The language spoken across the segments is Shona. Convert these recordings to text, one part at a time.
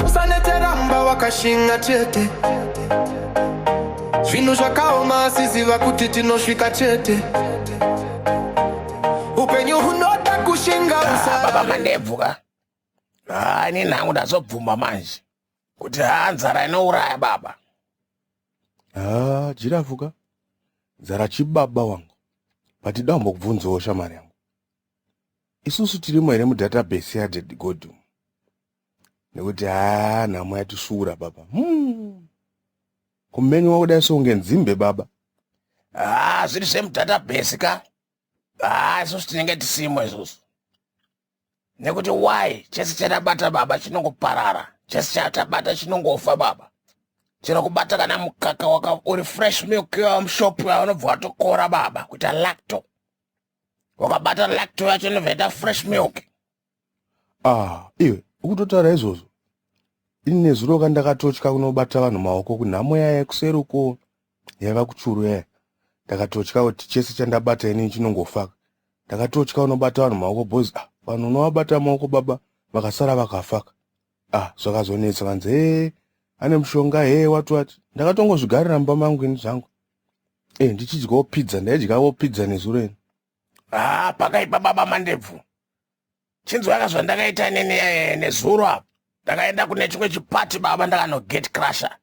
usaneteramba wakashinga chete zvinhu zvakaoma asiziva kuti tinosvika chete upenyu hunoda kushinga baba mandebvu ka haani nhangu ndazobvuma manje kuti haa nzara inouraya baba haa jirafu ka nzara chibaba wangu but da umbokubvunzawo shamari yangu isusu tirimo here mudatabase yadedgodum nekuti haa nhamo yatisvuura baba hmm. kumeni wakuda songe nzimbe baba haa zviri zvemudatabase ka haa isusu tinenge tisimo isusu nekuti why chese chatabata baba chinongoparara chese chatabata chinongofa baba chero kubata kana mukaka waka uri fresh milk yamushop yaunobva watokora baba kuita lacto wakabata lacto yacho inobva ita fresh milk ah iwe ukutotaura izvozvo ini nezuro ka ndakatotya kunobata vanhu maoko kunhamo yaya kuseri uko yaiva kuchuru yaya ndakatotya kuti chese chandabata inini chinongofa ndakatotya unobata vanhu maoko bhozi ah vanhu unovabata maoko baba vakasara vakafaka ah zvakazonetsa vanzi hee ane mushonga hee wati wati ndakatongozvigarira mumba mangu ini zvangu e ndichidyawo pizza ndaidyawo pizza nezuro ini haa pakaipa baba mandebvu chinzwaka zvandakaita nini eh, nezuro apa ndakaenda kune chimwe chipati baba ndakanoget crusher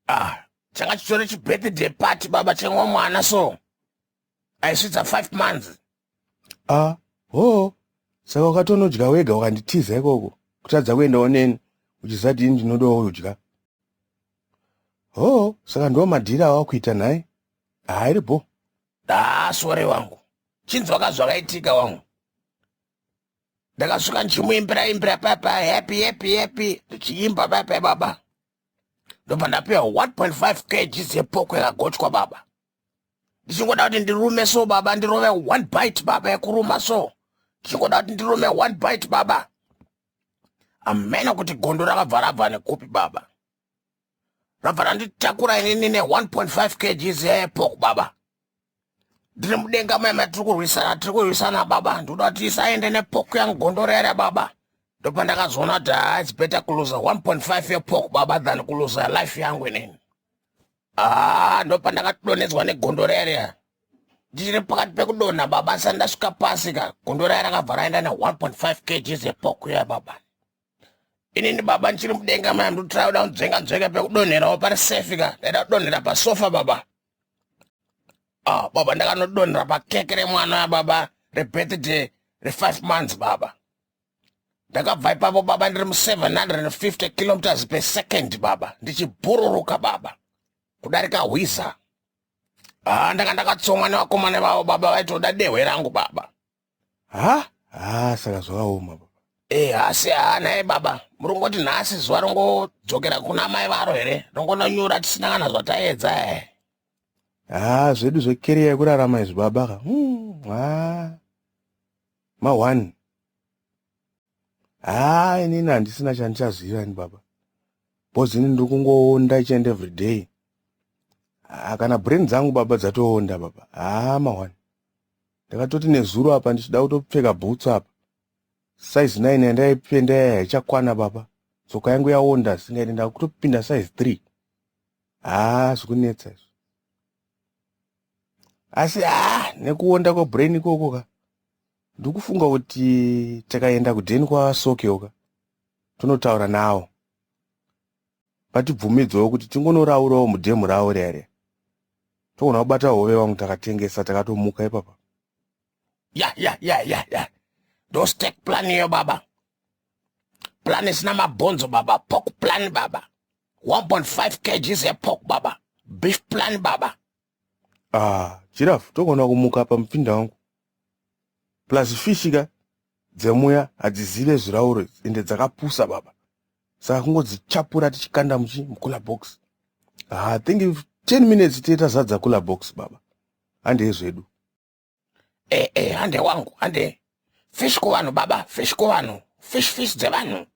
ah changa chitori chibirthday party baba chemwe mwana so aisvitsa five months a hoo saka ukatonodya wega ukanditiza ikoko kutadza kuendawo neni uchizati ini ndinodawo udya hoo saka ndiwo madhiri awakuita nhai haa iri bho haa ah, sore wangu chinzwaka zvakaitika wangu ndakasvika ndichimuimbira imbira papa happy happy happy ndichiimba papa baba ndobva ndapiwa 1.5 kgs yepoko yakagochwa baba ndichingoda kuti ndirume so baba ndirove one bite baba yekuruma so ndichingoda kuti ndirume one bite baba amena kuti gondo rakabva rabva nekupi baba rabva randitakura inini ne1.5 kgs yepork baba ndiri mudenga mai matiri kurwisana tiri kurwisana baba ndikuda kuti isaende nepork yangu gondoro yare baba ndopandakazoona kuti haa its better kuluza 1.5 yepork baba than kuluza life yangu inini haa ndopandakatodonhedzwa negondoro yare ndichiri pakati pekudonha baba sandasvika pasi ka gondoro yare akabva raenda ne1.5 kgs yepork yaya baba inini baba ndichiri mudenga maya ndotira kuda kunzvenga nzvenga pekudonherawo pari safe ka ndaida kudonhera pasofa baba ah baba ndakanodonhera pakeke remwana ya baba rebirthday refive months baba ndakabva ipapo baba ndiri mu750 kilometers per second baba ndichibhururuka baba kudarika hwiza ah ndanga ndakatsomwa nevakomana vavo baba vaitoda dehwe rangu baba ha ha saka zvakaoma baba Eh, asi haa naye baba muringoti nhasi zuva rongodzokera kuna mai varo here rongononyura tisina kana zvataedza e ha zvedu zvekeriya yekurarama izvi baba ka Hmm, ha ma one ha inini handisina chandichaziva ini baba bhozi ini ndiri kungoonda each and every day ha kana brain dzangu baba dzatoonda baba ha ma one ndakatoti nezuro apa ndichida kutopfeka boots apa size 9 yandaipenda yaya haichakwana baba tsoka yangu yaonda singaiti ndakutopinda size 3 haa zvikunetsa izvo asi haa nekuonda kwabrain ikoko ka ndikufunga kuti takaenda kudheni kwasokeoka tonotaura nawo vatibvumidzewo kuti tingonoraurawo mudhemu ravo riya riya togona kubata hove vangu takatengesa takatomuka ipapa ya ya ya ya ya ndostek plan iyo baba plan isina mabhonzo baba pok plan baba 1.5 kgs yepork baba beef plan baba Ah, giraffe togona kumuka apa mupinda wangu. Plus fish ka dzemuya hadzizive zvirauro ende dzakapusa baba. Saka kungodzichapura tichikanda muchi mukula box. Ah, I think if 10 minutes tiye tazadza kula box baba. Handei zvedu. Eh eh, hande wangu, hande. Fish kuvanhu baba, fish kuvanhu. Fish fish dzevanhu.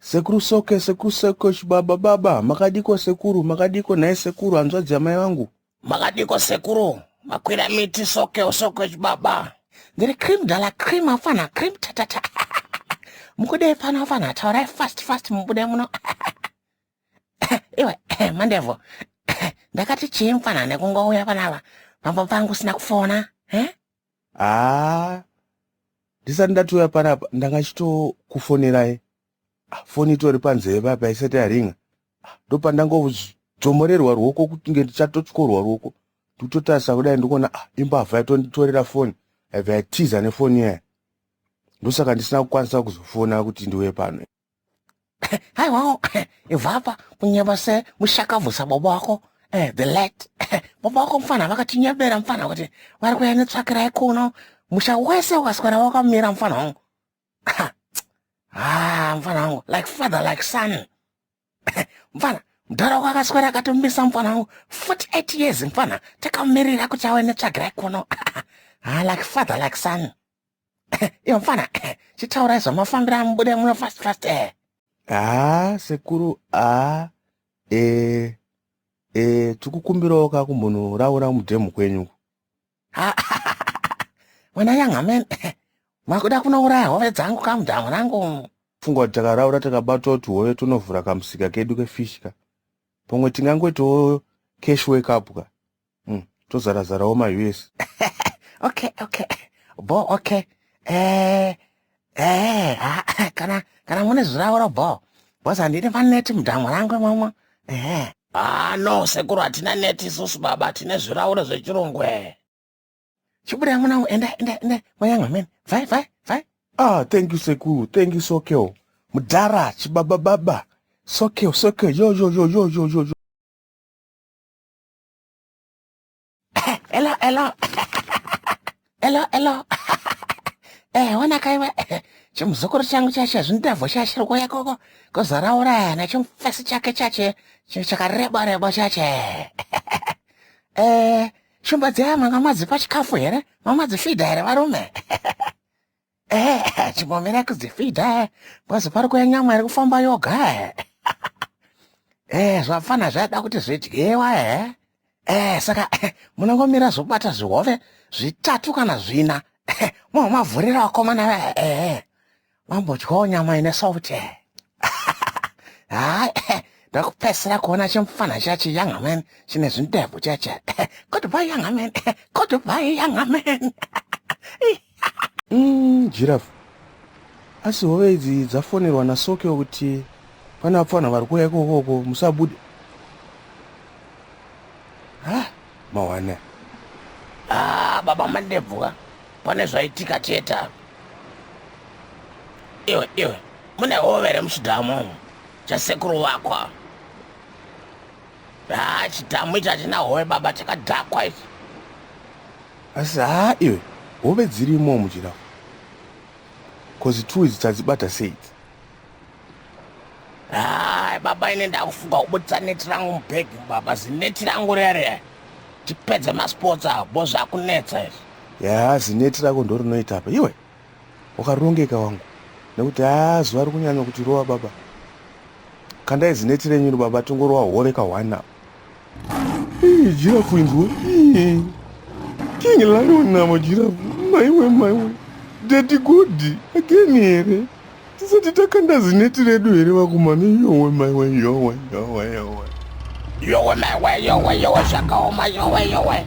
Sekuru Soke, Sekuru Soke, chibaba baba, makadiko sekuru, makadiko nhai sekuru, hanzvadzi yamai vangu. Makadiko sekuru, makwira miti Soke, Soke chibaba. Ndiri cream dala cream afana cream tatata. Mukudei pano afana taurai fast fast mubude muno. Iwe mandevo. Ndakati chii mfana nekungouya panapa. Mambo pangu sina kufona. Eh? haa ndisati ndatouya panapa ndanga chitokufonerai ah, foni itori panzeve papa isati yaringa ah, ndopandangodzomorerwa ruoko kutinge ndichatotyorwa ruoko ndikutotarisa kudai ndikuona ah, imbavha yatonditorera foni yabva yatiza nefoni iyaya ndosaka ndisina kukwanisa kuzofona kuti ndiuye pano haiwawo ibvapa kunyeba se mushakabvusa baba wako eh, the late baba wako mfana vakatinyebera mfana kuti vari kuya netsvakirai kuno musha wese ukaswera wakamira mfana wangu ah, mfana wangu like father like son mfana mdhara wako akaswera akatomisa mfana wangu 48 years mfana takamirira kuti awe netsvakirai kuno ah, like father like son iyo mfana chitaurai zvamafambira mubude muno fast fast eh. haa ah, sekuru haa ah, e eh, e eh, tikukumbirawo ka kumunhu raura mudhemu kwenyu wena yangamen makuda kunouraya hove dzangu kamudhamu rangu funga kuti takaraura takabatwa kuti hove tonovhura kamusika kedu kefishka pamwe tingangoitawo cash wake up ka Mm, tozara zarawo ma US. okay, okay. Bo okay. Eh eh ah, ah, kana kana mune zviravoro bo. Boss handine ma net mudhamu rangu imomo. Eh. Ah no sekuru hatina net isusu baba tine zviravoro zvechirungu eh. Chibuda mwana wangu enda enda enda mwanyanga mene. Vai vai vai. Ah, thank you sekuru. Thank you Sokeo. Mudhara chibaba baba. Sokeo, Sokeo. Yo yo yo yo yo yo. yo. Hello, hello. Hello, hello. Eh, wana kaiwa. Chimuzukuru changu chacho zvindavho chacho kuya koko. Kuzaraura na chimfesi chake chacho. Chakareba reba chacho. Eh, shumba dzaya manga madzipa chikafu here? Mama dzifida here varume? Eh, chimomera kudzifidha kwazi pari kuya nyama iri kufamba yoga eh. Eh, zvapfana zvada kuti zvidyiwa eh. Eh, saka eh, munongomira zvokubata zvihove zvitatu kana zvina eh, momavhurira vakomana ve eh, eh. vambodyawo nyama ine sauti eh. hayi ndakupedzisira kuona chimufana chacho young man chine zvindebvu chacho goodbye young man goodbye young man mm, giraf asi hove idzi dzafonerwa nasokeo kuti pane vapfanha vari kuuya ikokoko musabude ha mawana ah, baba mandebvu ka pane zvaitika chete apa iwe iwe mune hove here muchidhamu umu chasekuru wako haa chidhamu ichi hachina hove baba chakadhakwa ichi asi haa iwe hove dzirimo muchidhamu bcause two izi tadzibata sei idzi Hai baba ine ndakufunga kubudisa neti rangu mubag baba zineti rangu riya riya tipedze masports avo bo zvakunetsa izvi yaa zineti rako ndo rinoita apa iwe wakarongeka wangu nekuti haa zuva rikunyanya kuti rova baba kandai zineti renyu ri baba tingorova hove kahwani apa Jirafu inzwa. King Lion navo jirafu. Maiwe maiwe. Daddy good. Again here. Tisati takanda zineti redu here vakomana. Yowe maiwe yowe yowe yowe. Yowe maiwe yowe yowe zvakaoma yowe yowe.